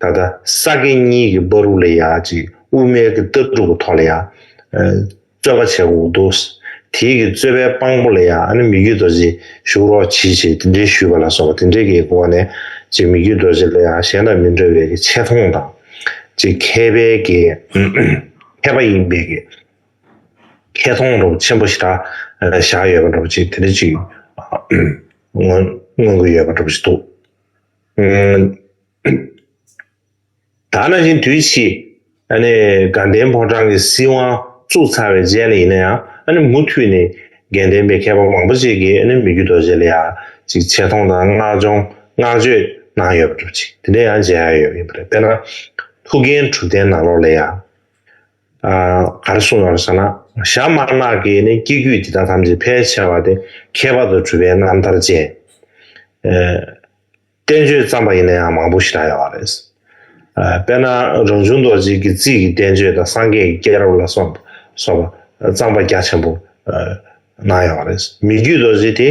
ད་ལྟ་ས་དགེ་གཉིས་ཀྱི་སྦ་རུག་ལ་ཡ་གཅིག་དབུ་མའི་གི་ལྟ་གྲུབ་པོ་ཐོག་ལ་ཡ། རྩོད་པ་བྱེད་འོག་འདུག། དེའི་གི་རྩོད་པའི་དཔང་པོ་ལ་ཡ་ཨ་ནི་མི་རྒྱུད་རྡོ་རྗེ་བཞུགས་རོགས་གྱིས་ཞེས་དེ་འདྲའི་ཞུས་པ་ལ་སོགས་པ་དེ་འདྲའི་གི་འོག་ནས་ཅེས་མི་རྒྱུད་རྡོ་རྗེ་ལ་ཡ་གཞན་དང་མི་འདྲ་བའི་གི་ཆེ་མཐོང་དང། ཅེས་མཁས་པའི་གི། མཁས་པ་ཡིན་པའི་གི། ཁྱད་མཐོང་རོགས་ཆེན་པོ་ཞེ་དྲག་བཞག་ཡོད་པ་རོགས་གྱིས་དེ་འདྲ་ཅིག། མངོན་དགོས་ཡོད་པ་རོགས་གྱིས་འདུག། ད་ན་བཞིན་དུས་ཕྱིས་དགའ་ལྡན་ཕོ་བྲང་གི་སྲིད་དབང་བཙུགས་ཚར་བའི་རྗེས་ལ་ཡིན་ཡང་མུ་མཐུད་ནས་དགེ་ལྡན་པའི་མཁས་པ་མང་པོ་ཞིག་གིས་མི་རྒྱུད་རྡོ་རྗེ་ལ་ཡང་ཅིག་ཆེ་མཐོང་དང་བསྔགས་སྦྱོང་བསྔགས་བརྗོད་གནང་ཡོད་པ་གྲུབ་ཅིག་དེ་འདྲའི་ཡང་མཇལ་ཡ་ཡོད་ཡིན་པ་རེད་དཔེར་ན་ཐུགས་འགན་དྲུག་ལྡན་ནང་ལོགས་ལ་ཡང་ག་རེ་གསུངས་ཡོད་ཟེར་ན་ཞྭ་དམར་ནག་གི་ནི་སྐྱེ་རྒྱུད་འདི་དག་ཐམས་ཅད་ཕལ་ཆེ་བ་དེ་ཁྱད་པར་དུ་གྲུབ་པའི་རྣམ་ཐར་ཅན། བསྟན་བཅོས་བརྩམས་པ་ཡིན་ན་ཡང་མང་པོ་ཞིག་གྲགས་ཡོང་བ་རེད། དཔེར་ན་རང་བྱུང་རྡོ་རྗེ་ཀྱི་རྩིས་ཀྱི་བསྟན་བཅོས་དང་སངས་རྒྱས་ཀྱི་སྐྱེས་རབས་ལ་སོགས་པ་བརྩམས་པ་རྒྱ་ཆེན་པོ་གནང་ཡོང་བ་རེད། མི་རྒྱུད་རྡོ་རྗེ་དེ་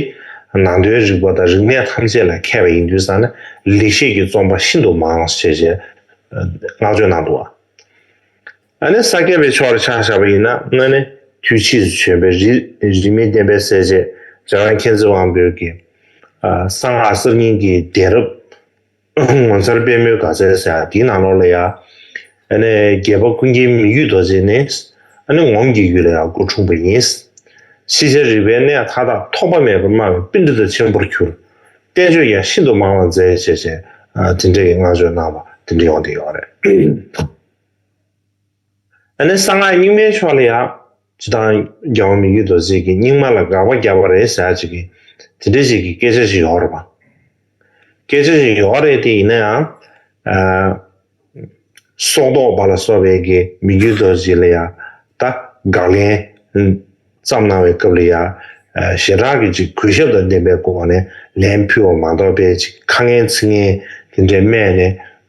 ནང་དོན་རིག་པ་དང་རིག་གནས་ཐམས་ཅད་ལ་མཁས་པ་ཡིན་དུས་སང་ནས་ལེགས་བཤད་ཀྱི་རྩོམ་པ་ཤིན་ཏུ་མང་ཞེས་བསྔགས་བརྗོད་གནང་འདུག་བ། ཨ་ནི་ས་བརྒྱད་པའི་ཕྱོགས་ལ་ཕྱག་བཞག་པ་ཡིན་ན་སྔོན་ནི་དུས་ཕྱིས་སུ་བྱོན་པའི་རིས་མེད་བསྟན་པའི་གསལ་བྱེད་རྗེ་དབོན་མཁྱེན་བརྩེ་དབང་པོའི་གསང་སྔགས་གསར་རྙིང་གི་གདན་རབས་ངོ་མཚར་དཔལ་མོའི་དགའ་ཚལ་ཟེར་ཡང་དེའི་ནང་ལོགས་ལ་ཡང་ཨ་ནི་རྒྱལ་བ་ཀུན་མཁྱེན་མི་ཡུལ་རྡོ་རྗེ་ནི་ཨ་ནི་ངོམ་གྱི་ཡུལ་ལ་ཡང་སྐུ་འཁྲུངས་པ་ཡིན། ཤེས་བྱ་རིག་པའི་གནས་མཐའ་དག་ཐོགས་པ་མེད་པར་སྨྲ་བའི་པཎྜི་ཏཱ་ཆེན་པོར་གྱུར། བསྟན་བཅོས་ཀྱང་ཤིན་ཏུ་མང་བར་མཛད་ཅེས་བཅས་འབྲེལ་འདྲིས་ཀྱི་བསྔགས་བརྗོད་གནང་བ་འདི་འདྲ་ཡོང་དེ་ཡོང་རེད། ཨ་ནི་གསང་སྔགས་རྙིང་མའི་ཕྱོགས་ལ་ཡག། ཇི་ལྟར་རྒྱའོ་མི་རྒྱུད་རྡོ་རྗེ་གི་རྙིང་མ་ལ་དགག་པ་རྒྱག་པ་རེད་ཟེར་ཅིག་གི། དེ་འདྲའི་ཞིག་གི་སྐད་ཆ་ཞིག་ཡོག་རེད་པ། སྐད་ཆ་ཞིག་ཡོག་རེད་དེ་ཡིན་ན་ཡང། སྲོག་བཟློག་པ་ལ་སོགས་པའི་གི་མི་རྒྱུད་རྡོ་རྗེ་ལ་ཡག། ད་དགག་ལན་བརྩམས་གནང་བའི་སྐབས་ལ་ཡག། ཞེ་དྲག་གི་ཅིག་གུས་ཞབས་དང་ལྡན་པའི་སྒོ་ནས་ལན་ཕུལ་བ་མ་གཏོགས་པའི་ཅིག་ཁ་ངན་ཚིག་ངན་དེ་འདྲའི་སྨྲས་ནས་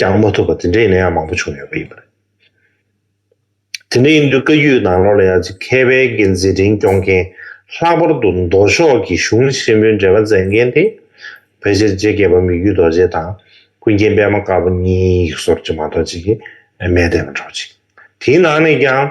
ཀྱང་མ་ཐུབ་པ་དེ་འདྲའི་ཡིན་ན་ཡང་མང་པོ་བྱུང་ཡོད་པ་ཡིན་པ་རེད། དེ་འདྲ་ཡིན་དུས་བཀའ་རྒྱུད་ནང་ལོགས་ལ་ཡང་ཅིག་མཁས་པའི་འགན་འཛིན་འབྲིང་སྐྱོང་མཁན་ལྷག་པར་དུ་མདོ་ཕྱོགས་ཀྱི་གཞུང་ཆེན་པོའི་འབྲེལ་བ་མཛད་མཁན་དེ་ཕལ་ཆེར་རྗེ་རྒྱལ་པོ་མི་བརྒྱུད་རྡོ་རྗེ་དང་ཀུན་མཁྱེན་པད་མ་དཀར་པོ་གཉིས་ཡིག་ཟོར་གྱི་མ་གཏོགས་ཅིག་གིས་མས་བསྡད་པ་འདྲ་བོ་ཅིག་དེའི་ནང་ནས་ཀྱང།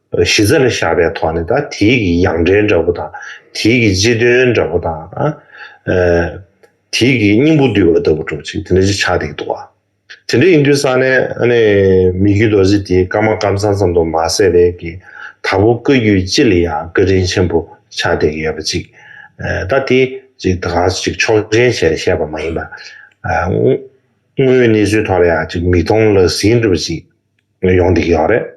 གཞི་རྩ་ལ་བཞག་པའི་ཐོག་ནས་དང་དེའི་གི་ཡང་འབྲེལ་འདྲ་པོ་དང། དེའི་གི་སྤྱི་དོན་འདྲ་པོ་དང། དེའི་གི་སྙིང་པོ་བསྡུས་པ་ལྟ་བུ་གྲུབ་ཅིག་དེ་འདྲ་ཅིག་ཆགས་འདུག་གདུག། དེ་འདྲ་ཡིན་དུས་ས་ནས་ཨ་ནི་མི་རྒྱུད་རྡོ་རྗེ་དེའི་བཀའ་མ་བཀའ་མཚང་ཙམ་དུ་མ་ཟད་པའི་གི་ད་བུ་བཀའ་རྒྱུད་སྤྱི་ལ་ཡང་བཀའ་དྲིན་ཆེན་པོ་ཆགས་འདུག་ཡོད་པ་ཅིག་ད་དེ་ཅིག་ད་ག་ཅིག་ཆོག་མཆན་བྱས་ནས་བཤད་པ་མ་ཡིན་པར། དངོས་ཡོད་གནས་ཚུལ་ཐོག་ལ་ཡང་ཅིག་མིག་མཐོང་ལག་ཟིན་འགྲུབ་པ་ཅིག་ཡོང་འདུག་ཡོད་རེད།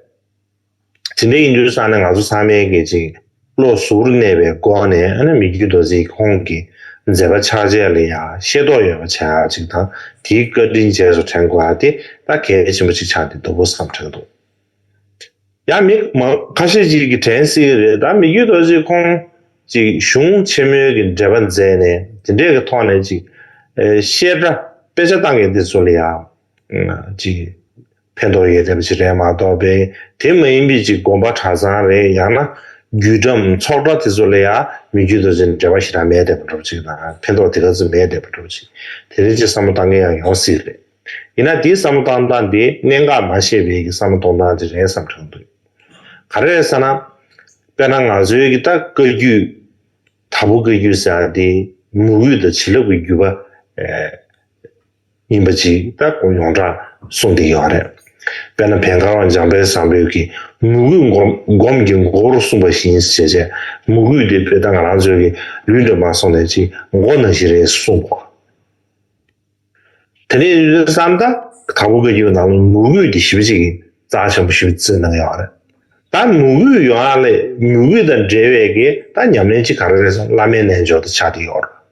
དེ་འདྲའི་ཡིན་དུས་ས་ནི་ང་ཚོ་ཚང་མའི་གི་ཅིག་བློ་གཟུར་གནས་པའི་སྒོ་ནས་ཨ་ན་མི་རྒྱུད་རྡོ་རྗེའི་ཁོང་གི་མཛད་པ་ཕྱག་རྗེས་ལ་ཡང་ཤེས་རྟོགས་ཡོད་པ་བྱ་ཅིག་དང་དེའི་བཀའ་དྲིན་རྗེས་སུ་དྲན་དགོས་པ་དེ་ད་གལ་ཆེན་པོ་ཅིག་ཆགས་འདི་འདུག་པོ་བསམ་དྲན་འདུག་ཡང་མི་མང་ཁ་ཤས་ཅིག་གི་དྲན་སྲིད་གི་རེད་ད་མི་རྒྱུད་རྡོ་རྗེ་ཁོང་ཅིག་གཞུང་ཆེན་མོའི་གི་འགྲེལ་པ་མཛད་ནས་དེ་འདྲའི་གི་ཐོག་ནས་ཅིག་བཤད་གྲྭ་དཔེ་ཆ་བཏང་གི་འདི་ཚོ་ལ་ཡང་ཅིག། ཕན་ཐོགས་ཡོད་ཐབས་ཤིག་རེད་མ་གཏོགས་པས་དེ་མ་ཡིན་པའི་ཅིག་དགོངས་པ་གྲྭ་ཚང་རེད་ཡང་ན་རྒྱུད་གྲམ་ཚོགས་གྲྭ་དེ་ཚོ་ལ་ཡང་མི་རྒྱུད་དོ་ཅན་འབྲེལ་བ་ཞིག་རང་མེད་བསྡད་པ་འགྲོ་ཅིག་དང་ཕན་ཐོགས་དེ་ག་ཚོད་མེད་བསྡད་པ་འགྲོ་ཅིག་དེ་རིང་ཅིག་བསམ་བློ་གཏང་མཁན་ཡང་ཡོང་སྲིད་རེད་ཡིན་ན་དེའི་བསམ་བློ་གཏང་སྟངས་དེ་གནད་འགག་མ་ཤེས་པའི་གི་བསམ་བློ་གཏོང་སྟངས་དེ་རེད་བསམ་གྱོང་འདུག་ག་རེ་རེད་ས་ན་དཔེར་ན་ང་ཚོའི་གི་ད་བཀའ་རྒྱུད་ད་བོ་བཀའ་རྒྱུད་ཟེར་ཡང་དེ་མུ་འུད་དང་བྱིན་རླབས་ཀྱི་རྒྱུད་པ། ཡིན་པ་ཅིག་ལྟ་དགོས་ཡོངས་གྲགས་གསུངས་ཏེ་ཡོད་རེད། དཔེར་ན་བན་གར་བ་འཇམ་དཔལ་བཟང་པོས་ཀྱི་མུ་གུས་སྒོམ་གྱི་མགོ་བོར་གསུངས་པ་བཞིན་བྱས་རྗེས་མུ་གུས་དེ་བོད་དང་རང་ཚོད་ཀྱི་ལུས་འདྲེན་པར་སོང་ནས་ཅིག་མགོ་ན་ཞིག་རེད་གསུངས་པ། དེ་ནས་བསམ་ད་དང་པོ་བཀའ་རྒྱུད་ནང་ལ་མུ་གུས་དེ་ཞི་བ་ཅིག་གིས་རྩ་ཆེན་པོ་ཞི་བའི་རྩིས་གནང་ཡོད་རེད། ད་མུ་གུས་ཡོངས་ལས་མུ་གུས་དང་འབྲེལ་བའི་གི་ད་ཉམས་ལེན་ཅིག་ག་རེ་རེད་བསམ་བླ་མའི་རྣལ་འབྱོར་དུ་ཆགས་ཏེ་ཡོད་རེད།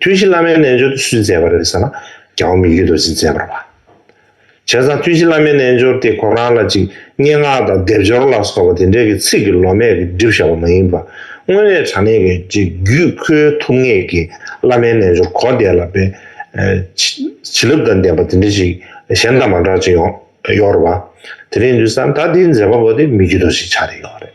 ཐུན་བཞི་བླ་མའི་རྣལ་འབྱོར་དུ་སུས་མཛད་པ་རེད་ཟེར་ན། རྒྱལ་བ་མི་བརྒྱུད་རྡོ་རྗེས་མཛད་པར་བ། བྱས་ཙང་ཐུན་བཞི་བླ་མའི་རྣལ་འབྱོར་དེ་ཁོ་རང་ལ་ཅིག་སྙན་ངག་དང་སྡེབ་སྦྱོར་ལ་སོགས་པ་དེ་འདྲའི་གི་ཚིག་གི་ལོ་མས་གི་བསྒྲིབས་བཞག་པ་མ་ཡིན་པར་དངོས་གནས་དྲང་གནས་ཀྱི་ཅིག་བརྒྱུད་ཁོའི་ཐུབ་ངེས་ཀྱི་བླ་མའི་རྣལ་འབྱོར་གོ་བདེ་ལ་དཔེ། བྱིན་རླབས་དང་ལྡན་པ་དེ་འདྲའི་ཅིག་གཞན་དང་མ་འདྲ་ཅིག་ཡོང་ཡོང་ར་བ། དེ་རིང་དུས་སང་ད་དེའི་མཛད་པ་པོ་དེ་མི་བརྒྱུད་རྡོ་རྗེ་ཆགས་རེ་ཡོང་རེད།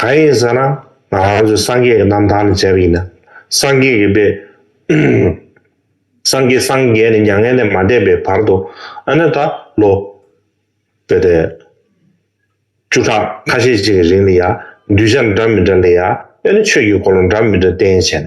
གང་ཡིན་ཟེར་ན་ང་རང་ཚོའི་སངས་རྒྱས་ཀྱི་རྣམ་ཐར་ལ་མཇལ་བ་ཡིན་ན། སངས་རྒྱས་ཀྱི་དཔེ། སངས་རྒྱས་སངས་རྒྱས་ནས་མྱ་ངན་ལས་མ་འདས་པའི་བར་དུ་ཨ་ན་ད་ལོ། བོད་དེ། བཅུ་ཕྲག་ཁ་ཤས་ཅིག་གི་རིང་ལ་ཡང་གདུལ་བྱ་འདྲ་མི་འདྲ་ལ་ཡང་ཨེ་ན་ཆོས་ཀྱི་སྐོར་ལ་འདྲ་མི་འདྲ་བསྟན་བྱས་ནས།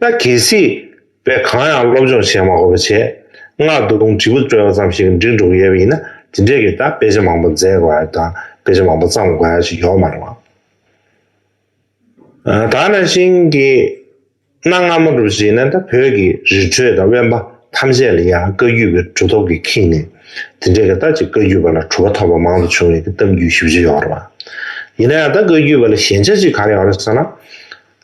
ད་གལ་སྲིད་བོད་གང་ཡང་སློབ་སྦྱོང་བྱས་མ་དགོས་པ་ཆེད་མངགས་རྡོ་དུང་དྲིལ་བུ་དཀྲོལ་བ་ཙམ་ཞིག་འགྲིག་འགྲོ་གི་ཡོད་པ་ཡིན་ན་དེ་འདྲའི་གི་ད་དཔེ་ཆ་མང་པོ་མཛད་དགོས་ཡ་དང་དཔེ་ཆ་མང་པོ་བརྩམས་དགོས་ཡ་ཞིག་ཡོག་མ་རེད་བ། ད་ནང་བཞིན་གི་གནའ་སྔ་མོ་རུ་བྱས་ན་ད་བོད་ཀྱི་རི་ཁྲོད་དང་དབེན་པ་ཐམས་ཅད་ལ་ཡང་བཀའ་རྒྱུད་པའི་གྲུ་ཐོག་གིས་ཁེངས་ནས་དེ་འདྲའི་གི་ད་ཅིག་བཀའ་རྒྱུད་པ་ལ་གྲུ་བ་ཐོབ་པ་མང་དུ་བྱུང་བའི་གི་གཏམ་རྒྱུད་ཞིབ་ཆ་ཡོག་རེད་བ། ཡིན་ན་ཡང་ད་བཀའ་རྒྱུད་པ་ལ་ཞན་ཆ་ཅིག་ག་རེ་ཡོག་རེད་ཟེར་ན།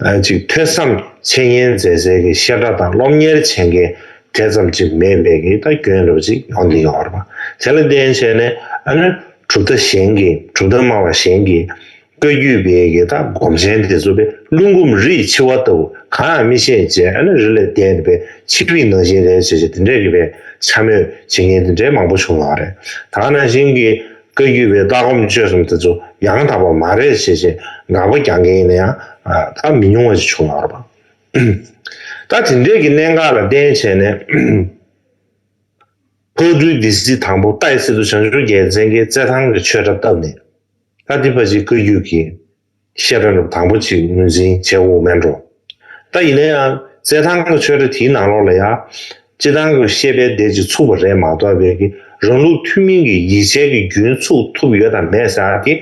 ལན་ཅིག་ཐོས་བསམ་འཆད་ཉན་མཛད་སའི་གི་བཤད་གྲྭ་དང་སློབ་གཉེར་བྱེད་མཁན་དེ་ཙམ་ཅིག་མེད་པའི་གི་ད་གྱོན་རབས་ཅིག་ཡོང་དེ་ཡོང་བར་པ་དེ་ལ་བརྟེན་བྱས་ནས་ཨ་ནུ་གྲུབ་མཐའ་གཞན་གི་གྲུབ་མཐའ་སྨྲ་བ་གཞན་གི་བཀའ་བརྒྱུད་པའི་གི་ད་སྒོམ་ཆེན་དེ་ཚོ་པའི་བླུན་སྒོམ་རིས་འཆི་བ་ལྟ་བུ་གང་ཡང་མི་ཤེས་བྱས་ཨ་ནུ་རི་ལས་བསྡད་དེ་པའི་ཕྱི་རིག་ནང་བཞིན་རེད་བྱས་བྱས་དེ་འདྲའི་གི་པའི་འཕྱ་སྨོད་བྱེད་མཁན་དེ་འདྲའི་མང་པོ་བྱུང་ཡོང་བ་རེད་ད་ནང་བཞིན་གི། བཀའ་བརྒྱུད་པའི་ལྟ་སྒོམ་སྤྱོད་གསུམ་དེ་ཚོ་ཡང་དག་པ་མ་རེད་ཞེས་ཞེས་དགག་པ་རྒྱག་མཁན་ཡིན་ན་ཡང་དག་མི་ཉུང་བ་ཞིག་བྱུང་ཡོད་པ་རེད། ད་དེ་འདྲས་ཀྱི་གནད་འགག་ལ་བརྟེན་བྱས་ནས། བཀའ་བརྒྱུད་སྡེ་སྲིད་དང་པོ་ཏཱའི་སི་ཏུ་བྱང་ཆུབ་རྒྱལ་མཚན་གྱིས་རྩེད་ཐང་གི་ཆོས་གྲྭ་བཏབ་ནས། ད་དེ་ཕ་གཞིས་བཀའ་བརྒྱུད་ཀྱི་ཤེས་རབ་ལ་དང་པོ་གཅིག་དངོས་འཛིན་བྱེད་དབུགས་མེད་འགྲོ། ད་ཡིན་ན་ཡང་རྩལ་ཐང་གི་ཆོས་སྒྲ་དེའི་ནང་ལོགས་ལ་ཡང། སྤྱི་དང་གི་ཤེས་པའི་བདེ་གཅིག་ཚུགས་པ་རེད་མ་གཏོགས་བས་ཀྱི་རང་ལུགས་ཐུན་མིན་གྱི་ཡིད་བྱེད་ཀྱི་རྒྱུན་ཚུགས་ཐུབ་ཡོད་དམ་མེད་ཟེར་བ་དེ།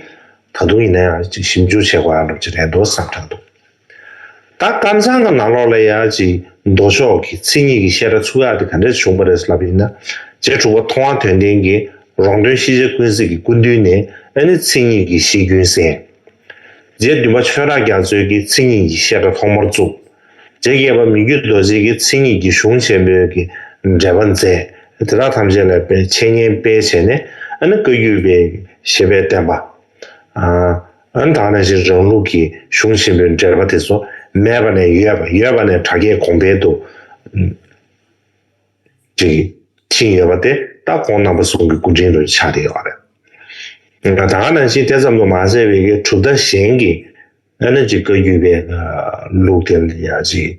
ད་དུང་ཡིན་ན་ཡང་ཅིག་ཞིབ་འཇུག་བྱེད་དགོས་ཡག་ལབ་ཀྱི་རེད་འདུག་བསམ་གྲབས་འདུག། ད་སྐམ་སང་གི་ནང་ལོགས་ལ་ཡ་ཅིག་མདོ་ཕྱོགས་ཀྱི་ཚིག་གཉིས་ཀྱི་བཤད་སྒྲ་ཚུགས་ཡག་དེ་ག་འདྲས་བྱུང་པ་རེད་ལབ་ཡིན་ན་རྗེ་དྲུག་པ་མཐོང་བ་དོན་ལྡན་གྱི་རོང་སྟོན་ཤེས་བྱ་ཀུན་གཟིགས་ཀྱི་སྐུ་མདུན་ནས་ཨ་ནི་ཚིག་གཉིས་ཀྱི་གཞི་རྒྱུན་གསན། རྗེ་བདུན་པ་ཆོས་ར་རྒྱ་མཚོས་ཀྱི་ཚིག་གཉིས་ཀྱི་བཤད་སྒྲ་ཐོག་མར་བཙུགས། རྗེ་བརྒྱད་པ་མི་འགྱུར་རྡོ་རྗེས་ཀྱི་ཚིག་གཉིས་ཀྱི་གཞུང་ཆེན་པོའི་ཀྱི་འགྲེལ་པ་མཛད་དེ་དག་ཐམས་ཅད་ལ་པའི་འཆད་ཉན་སྤེལ་བྱས་ནས་ཨ་ནི་བཀའ་བརྒྱུད་པའི་ཀྱི་ཞེས་པས་བསྟན་པ། འོན་ཏང་རང་བཞིན་རང་ལུགས་ཀྱི་གཞུང་ཆེན་པོའི་འགྲེལ་པ་དེ་ཚོ་མེད་པ་ནས་ཡོད་པ་ཡོད་པ་ནས་དྲ་རྒྱའི་གོང་འཕེལ་དུ་ཕྱིན་ཡོད་པ་དེ་ལྟ་གོང་རྣམ་པ་ཟུང་གི་སྐུ་དྲིན་དུ་ཆགས་ཀྱི་ཡོད་པ་རེད། ད་ནང་བཞིན་དེ་ཙམ་དུ་མ་ཟད་བས་ཀའི་གྲུབ་མཐའ་གཞན་གྱི་ཨེ་ནོ་ཇི་བཀའ་བརྒྱུད་པའི་ལུགས་དེ་ལ་ཡང་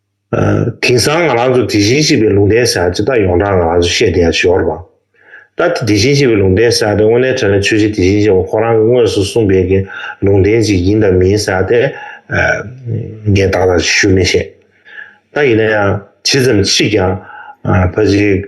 དེང་སང་ང་རང་ཚོ་དེ་བཞིན་གཤེགས་པའི་ལུང་བསྟན་ཟེར་ན་ཅི་ལྟར་ཡོངས་གྲགས་ང་རང་ཚོ་བཤད་བསྡད་ཡ་ཞོར་བ། ད་ལྟ་དེ་བཞིན་གཤེགས་པའི་ལུང་བསྟན་ཟེར་ཏེ་དངོས་གནས་དྲན་ན་ཆོས་རྗེ་དེ་བཞིན་གཤེགས་པ་ཁོ་རང་གི་དངོས་སུ་གསུངས་པའི་གི་ལུང་བསྟན་ཅིག་ཡིན་དང་མིན་ཟེར་ཏེ། ངས་བདག་ལ་ཞུ་མི་ཤེས། ད་ཡིན་ན་ཡང་ཇི་ཙམ་མཆིས་ཀྱང་ཕ་གཞིས།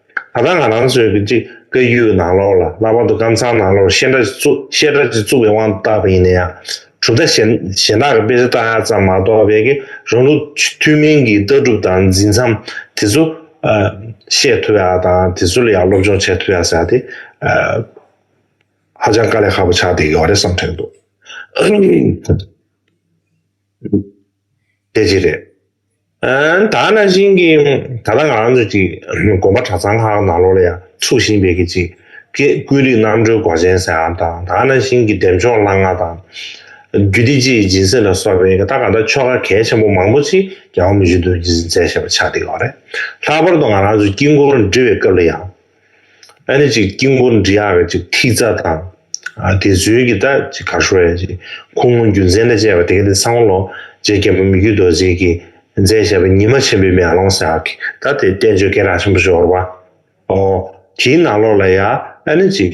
ད་ལྟ་ང་རང་ཚོའི་བཀའ་བརྒྱུད་ནང་ལོགས་ལ་ལྷག་པར་དུ་ཀམ་ཚང་ནང་ལོགས་བཤད་གྲྭ་བཤད་གྲྭ་ཅིག་བཙུགས་པའི་དབང་དུ་བཏགས་པ་ཡིན་ན་ཡང་གྲུབ་མཐའ་གཞན་གཞན་དག་གི་དཔེ་ཆ་བཏགས་ཡག་ཙམ་མ་གཏོགས་བལ་གེ་རང་ལུགས་ཐུན་མིན་གྱི་ལྟ་གྲུབ་དང་འཛིན་མཚམས་དེ་ཚོ་བཤད་ཐུབ་ཡག་དང་དེ་ཚོ་ལ་ཡང་སློབ་སྦྱོང་བྱེད་ཐུབ་ཡག་ཟེར་ཡག་ཧ་ཅང་དཀའ་ལས་ཁག་པོ་ཆགས་བསྡད་ཡོད་རེད་བསམ་ཐོན་འདུག། དེ་གཅིག་རེད། ད་ནང་བཞིན་གྱི་ད་ལྟ་ང་རང་ཚོ་གཅིག་དགོན་པ་གྲྭ་ཚང་ཁག་ནང་ལོགས་ལ་ཡང་ཚུགས་བཞིན་པའི་གི་གཅིག་ཀེ་ཀུན་རིག་རྣམ་གྲོལ་སྒོ་ཆེན་ཟེར་ཨང་དང་ད་ནང་བཞིན་གྱི་འདེབས་འཇོག་ལྷ་ང་དང། རྒྱུད་སྡེ་སྤྱི་ཡི་སྦྱིན་སྲེག་ལ་སོགས་པའི་གི་ད་ག་ད་ཆོ་ག་གལ་ཆེན་པོ་མང་པོ་ཅིག་རྒྱལ་བ་མུ་ཇུ་དུ་མཛད་བཞིན་པ་ཆགས་བསྡད་ཡོད་རེད། ལྷག་པར་དུ་ང་རང་ཚོ་དཀྱིལ་འཁོར་འབྲི་བའི་སྐབས་ལ་ཡང། ཨ་རེ་ཅིག་དཀྱིལ་འཁོར་འབྲི་ཡག་གི་ཅིག་ཐིག་རྩ་དང། དེ་བཟོས་ཀྱི་ད་ཅིག་གར་ཤོར་ཡ་ཅིག་ཁུ་ངོ་རྒྱུ་མཚན་དང་བཅས་པ་དེ་ག་ནི་སང་ལོ་རྗེ་རྒྱལ་པོ་མི་བརྒྱུད་རྡོ་རྗེ་གིས་མཛད་བཞེད་པ་ཉི་མ་ཆེན་པོའི་མེ་ལོང་ཟེར་བ་གིས་ད་དེ་བསྟན་བཅོས་སྐད་གྲགས་ཆེན་པོ་ཤོར་བ། ཨོ། དེའི་ནང་ལོགས་ལ་ཡ་ཨ་རེ་ཅིག།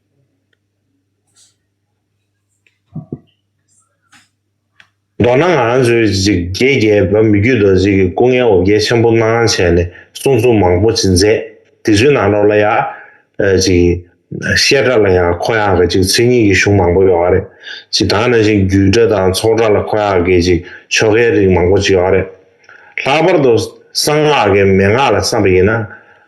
མདོར་ན་ང་རང་ཚོའི་རིགས་བརྒྱའི་རྒྱལ་བ་མི་རྒྱུད་རྡོ་རྗེ་ཡི་སྐུ་ངལ་འོ་བརྒྱལ་ཆེན་པོ་གནང་བྱས་ནས་གསུང་རྩོམ་མང་པོ་ཅིག་མཛད། དེ་ཚོའི་ནང་ལོགས་ལ་ཡང། བཤད་གྲྭ་ལ་ཡང་ཁོ་ཡང་གི་ཅིག་མཚན་ཉིད་ཀྱི་གཞུང་མང་པོ་ཡོད་རེད། ཅིག་དང་ནང་བཞིན་རྒྱུད་གྲྭ་དང་ཚོགས་གྲྭ་ལ་ཁོ་ཡང་གི་ཅིག་ཆོ་གའི་རིགས་མང་པོ་ཅིག་ཡོད་རེད། ལྷག་པར་དུ་གསང་སྔགས་ཀྱི་མན་ངག་ལ་བསམ་པ་ཡིན་ན།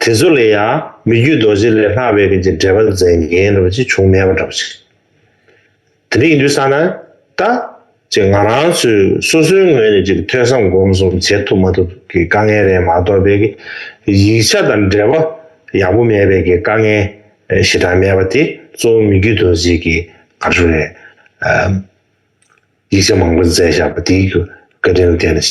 དེ་ཚོ་ལས་ཡང་མི་རྒྱུད་རྡོ་རྗེ་ལས་ལྷག་པའི་རྐྱེན་གྱིས་འབྲེལ་པ་མཛད་མཁན་འདྲ་བོ་ཅིག་བྱུང་མེད་པ་འདྲ་བོ་ཅིག་དེ་འདྲ་ཡིན་དུས་ས་ན་ད་ཅེས་ང་རང་ཚོས་སོ་སོའི་ངོས་ནས་ཅིག་ཐོས་བསམ་སྒོམ་གསུམ་བྱེད་ཐུབ་མ་ཐུབ་ཀྱི་དཀའ་ངལ་རེད་མ་གཏོགས་དཔེ་ཀྱི་ཡིག་ཆ་དང་འབྲེལ་བ་ཡག་པོ་མེད་པའི་ཀྱི་དཀའ་ངལ་ཞེ་དྲག་མེད་པ་དེ་གཙོ་བོ་མི་རྒྱུད་རྡོ་རྗེ་ཀྱི་གར་སོ་རེད། ཡིག་ཆ་མང་པོ་མཛད་བཞག་པ་དེའི་ཀྱི་བཀའ་དྲིན་ལ་བརྟེན་ནས་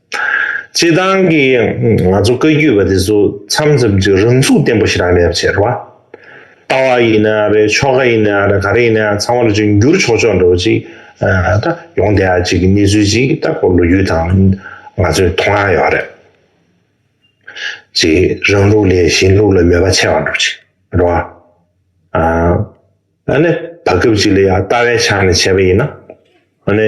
སྤྱི་བཏང་གི་ང་ཚོ་བཀའ་རྒྱུད་པ་དེ་ཚོ་མཚམས་མཚམས་ཀྱི་རང་ཚུགས་བརྟན་པོ་ཞིག་རག་ལས་པ་བྱེད་རོགས། ལྟ་བ་ཡིན་ན་རེད་ཆོ་ག་ཡིན་ན་རེད་ག་རེ་ཡིན་ན་ཚང་མ་ལ་ཅིག་འགྱུར་ཆོག་ཆོག་འགྲོ་ཅིག་ད་ཡོང་དེ་ཡག་ཅིག་གི་གནས་ཚུལ་ཅིག་ད་ཁོ་ལོ་རྒྱུས་དང་ང་ཚོའི་མཐོང་ཡག་ཡོག་རེད། ཅིག་རང་ལུགས་ལས་གཞན་ལུགས་ལ་མོས་པ་ཆེ་བ་འགྲོ་ཅིག་རོགས། ཨ་ཨ་ནི་བར་སྐབས་ཅིག་ལ་ཡང་ལྟ་བའི་ཆ་ནས་བྱས་པ་ཡིན་ན་ཨ་ནི།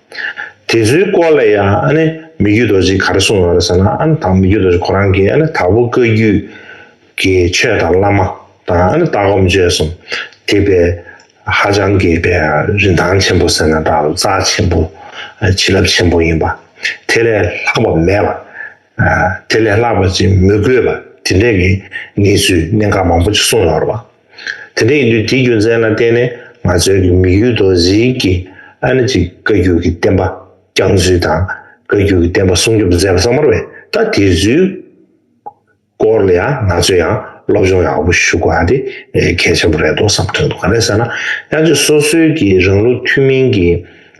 དེ་ཚོའི་སྐོར་ལ་ཡང་མི་རྒྱུད་རྡོ་རྗེས་ག་རེ་གསུངས་ཡོད་ཟེར་ན་དང་མི་རྒྱུད་རྡོ་རྗེ་ཁོ་རང་གིས་དྭགས་པོ་བཀའ་རྒྱུད་ཀྱི་ཆོས་དང་བླ་མ་དང་ལྟ་སྒོམ་སྤྱོད་གསུམ་དེ་བས་ཧ་ཅང་རྒྱས་པའི་རིན་ཐང་ཆེན་པོ་ཟེར་ན་འདྲ་རྩ་ཆེན་པོ་བྱིན་རླབས་ཆེན་པོ་ཡིན་པ་དེ་ལས་ལྷག་པ་མེད་པ་དེ་ལས་ལྷག་པ་ཅིག་མི་དགོས་པ་དེ་འདྲས་ཀྱི་གནས་ཚུལ་གནད་འགག་མང་པོ་ཅིག་གསུངས་ཡོད་རེད་བ། དེ་འདྲ་ཡིན་དུས་དེའི་རྒྱུ་མཚན་ལ་བརྟེན་ནས་ང་ཚོའི་དམིགས་ཡུལ་རྡོ་ཟིལ་གྱི་ཨ་ནེ་ཅིག་བཀའ་འགྱུར་གྱི་བསྟན་པ་བསྐྱངས་ཚུལ་དང་བཀའ་འགྱུར་གྱི་བསྟན་པ་སྲུང་སྐྱོབ་མཛད་པ་གཙང་མར་བས་ད་དེ་ཚུལ་སྐོར་ལ་ཡང་ང་ཚོས་ཡང་སློབ་སྦྱོང་ཡག་པོ་ཞུ་དགོས་པ་དེ་གལ་ཆེན་པོ་རེད་དོ་བསམ་དོན་དུ་ག་རེ་ཟེར་ན་ཡང་ཅིག་སོ་སོའི་གི་རང་ལུགས་ཐུན་མིན་གྱི་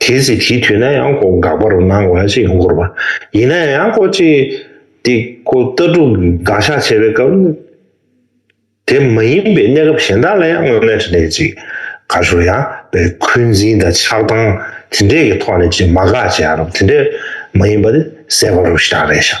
དེ་སྲིད་དེའི་དུས་ན་ཡང་སྒོ་འགག་པ་རུ་སྣང་བ་ཞིག་བསྐོར་བ་ཡིན་ན་ཡང་སྒོ་གཅིག་སྟེ་སྒོ་རྟ་དྲུག་འགག་བཞག་བྱས་པའི་སྐབས་ནི་དེ་མ་ཡིན་པའི་གནས་སྐབས་གཞན་དག་ལ་ཡང་དངོས་གནས་དྲི་ལན་ཅིག་དགའ་ཞོར་ཡང་པའི་འཁོན་འཛིན་དང་ཆགས་སྡང་དེ་འདྲས་ཀྱི་ཐོག་ནས་ཅིག་མ་དགག་བྱའི་ཨ་རབ་དེ་འདྲས་མ་ཡིན་པ་ནི་གསལ་བ་རུ་བཞག་རེ་བཞག།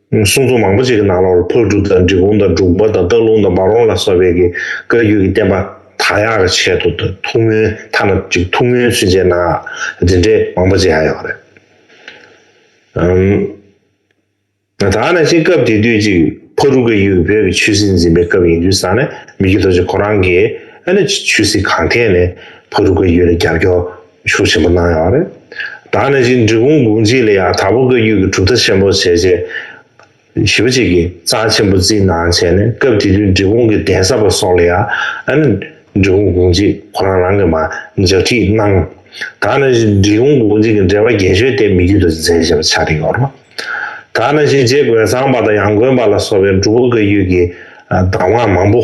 གསུང་རྩོམ་མང་པོ་ཅིག་གི་ནང་ལོར་ཕག་གྲུ་དང་འབྲི་གུང་དང་འབྲུག་པ་དང་སྟག་ལུང་དང་འབའ་རོང་ལ་སོགས་པའི་གི་བཀའ་རྒྱུད་ཀྱི་བསྟན་པ་དག་ཡག་གི་ཆེད་དུ་ཐུགས་སྨོན་ཐ་ན་ཅིག་ཐུགས་སྨོན་ཚུན་ཆད་ནའང་འདི་འདྲའི་མང་པོ་ཅིག་ཡང་ཡོད་རེད། ད་ནི་ཅིག་སྐབས་དེ་དུས་ཅིག་ཕག་གྲུ་བཀའ་རྒྱུད་བོད་ཀྱི་ཆོས་སྲིད་འཛིན་པའི་སྐབས་ཡིན་དུས་ས་ནི་མི་རྒྱུད་དོ་ཅིག་ཁོ་རང་གིས་ཨ་ནི་ཆོས་སྲིད་གང་ཐད་ནས་ཕག་གྲུ་བཀའ་རྒྱུད་ལ་རྒྱབ་སྐྱོར་ཤུགས་ཆེན་པོ་གནང་ཡོད་རེད། ད་ནི་གཅིག་འབྲི་གུང་དགུང་གཅིག་ལ་ཡང་དྭགས་པོ་བཀའ་བརྒྱུད་ཀྱི་གྲུབ་མཐའ་ཆེན་པོ་བྱས་རྗེས། བཞི་པ་གཅིག་གིས་གཙང་ཆེན་པོ་བརྩིས་གནང་བྱས་ནས་སྐབས་དེ་དུས་འབྲི་གུང་གི་གདན་ས་པ་སོགས་ལ་ཡང། འབྲི་གུང་དགུང་གཅིག་ཁོ་རང་རང་གིས་མ་ལྗགས་ཁྲིད་གནང། ད་ནི་འབྲི་གུང་དགུང་གཅིག་གི་འགྲེལ་པ་རྒྱན་ཤོས་དེ་མི་བརྒྱུད་དུ་མཛད་བཞེས་པ་ཆགས་ཀྱི་ཡོད་རེད། ད་ནི་གཅིག་རྗེ་དགོན་ཚང་པ་དང་ཡང་དགོན་པ་ལ་སོགས་པའི་འབྲུག་པ་བཀའ་བརྒྱུད་ཀྱི་གདམས་ངག་མང་པོ།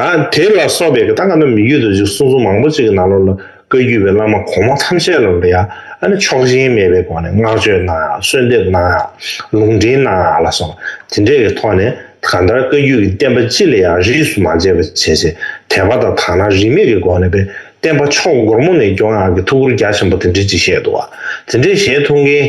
དང། དེ་ལ་སོགས་པའི་གདངས་རྣམས་མི་བསྐྱོད་དུ་གཅིག་གསུང་གསུང་མང་པོ་གཅིག་གི་ནང་ལོགས་ལ་བཀའ་བརྒྱུད་པའི་བླ་མ་གོང་མ་ཐམས་ཅད་ལ་ལོ་ཡ་ཨ་ནི་ཆོག་མཆན་མེད་པའི་སྒོ་ནས་བསྔགས་བརྗོད་གནང་ཡང་གསོལ་འདེབས་གནང་ཡང་ལུང་འདྲེན་གནང་ཡང་ལ་སོགས་དེ་འདྲས་ཀྱི་ཐོག་ནས་གང་ལྟར་བཀའ་བརྒྱུད་ཀྱི་བསྟན་པ་སྤྱི་ལ་ཡང་རིས་སུ་མ་ཆད་པ་བྱས་རྗེས་དད་པ་དང་དག་སྣང་རིས་མེད་ཀྱི་སྒོ་ནས་བསྟན་པ་ཕྱོགས་སྒོར་མོ་ནས་སྐྱོང་ཡག་གི་ཐུགས་ཁུར་རྒྱ་ཆེན་པོ་དེ་འདྲས་ཅིག་བཞེས་འདུག་བ། དེ་འདྲས་བཞེས་ཐུབ་མཁན།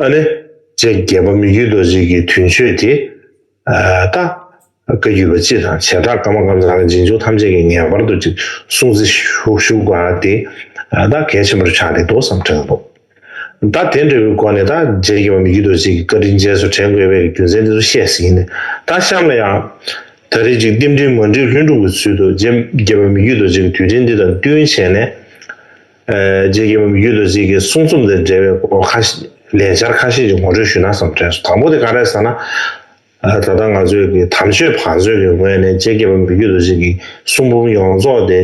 ཨ་ནེ། ཅེས་རྒྱལ་བ་མི་རྒྱུད་རྡོ་རྗེ་ཀྱི་དུས་མཆོད་དེ་ལྟ། བཀའ་བརྒྱུད་པ་སྤྱི་དང་བྱེ་བྲག་ཀརྨ་ཀརྨ་ཚང་གི་རྗེས་འཇུག་ཐམས་ཅད་ཀྱིས་ངེས་པར་དུ་ཅིག་གསུང་བརྩི་བཞུགས་པ་དེ་ལྟ་གལ་ཆེན་པོར་ཆགས་ཀྱི་འདུག་བསམ་དྲན་དུ། ད་དེ་འདྲ་བའི་སྒོ་ནས་ད་རྗེས་རྒྱལ་བ་མི་རྒྱུད་རྡོ་རྗེ་ཀྱི་བཀའ་དྲིན་རྗེས་སུ་དྲན་དགོས་པའི་རྒྱུ་མཚན་དེ་ཚོ་བཤད་ཟིན་ནས་ད་གཤམ་ལ་ཡང། ད་རེས་ཅིག་བསྟི་འབྲིང་མ་འགྲིག་ལྷུན་འགྲུབ་ཀྱི་ཚུལ་དུ་རྗེ་རྒྱལ་བ་མི་རྒྱུད་རྡོ་རྗེ་ཀྱི་དུས་དྲན་འདི་དང་བསྟུན་བྱས་ནས། རྗེ་རྒྱལ་བུ་མི་རྒྱུད་དུ་གཟིགས་ཀྱི་གསུང་རྩོམ་དང་འབྲེལ་བའི་སྐོར་ཁ་ལས་འཆར་ཁ་ཤས་ཀྱི་ངོ་སྤྲོད་ཞུས་ན་བསམ་དྲན་སོང་དང་པོ་དེ་ག་རེ་ཟེར་ན། ད་ལྟ་ང་ཚོས་ཀྱི་དམ་ཆོས་བང་མཛོད་ཀྱི་ངོས་ནས་རྗེ་རྒྱལ་བུ་མི་རྒྱུད་དུ་གཟིགས་ཀྱི་གསུང་འབུམ་ཡོངས་རྫོགས་དེ་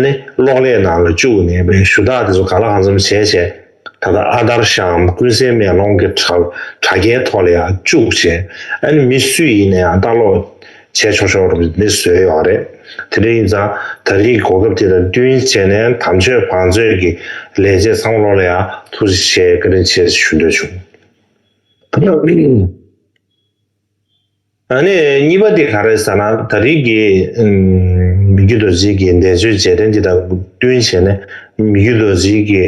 ནི་གློག་ཀླད་ནང་ལ་བཅུག་ནས་པའི་ཞུ་དག་དེ་ཚོ་ག་ལ་གང་འཚམ་བྱས་བྱས་ད་ལྟ་ཨ་དར་ཤའམ་ཀུན་གསལ་མེ་ལོང་གི་དྲ་རྒྱའི་ཐོག་ལ་ཡང་བཅུག་བྱས་ཨ་ནི་མི་སུ་ཡིན་ན་ཡང་ལྟ་ཀློག་བྱས་ཆོག་ཆོག་རུ་མི་བཟོས་ཡོད་རེད། དེ་འདྲ་ཡིན་ཙང་ད་རེས་གོ་སྐབས་དེ་དང་བསྟུན་བྱས་ནས་དམ་ཆོས་བང་མཛོད་ཀྱི་ལས་བྱེད་ཚང་མ་ལོག་ལེ་ཡ་ཐུག་ཅིག་བྱེད་བཀའ་དྲིན་ཆེ་ཞུ་འདོད་བྱུང། ཨ་ནི་གཉིས་པ་དེ་ག་རེད་ཟེར་ན་ད་རེས་ཀྱི་མི་རྒྱུད་རྡོ་རྗེ་ཀྱི་འདས་མཆོད་རྗེས་དྲན་དེ་དང་བསྟུན་བྱས་ནས་མི་རྒྱུད་རྡོ་རྗེ་ཀྱི།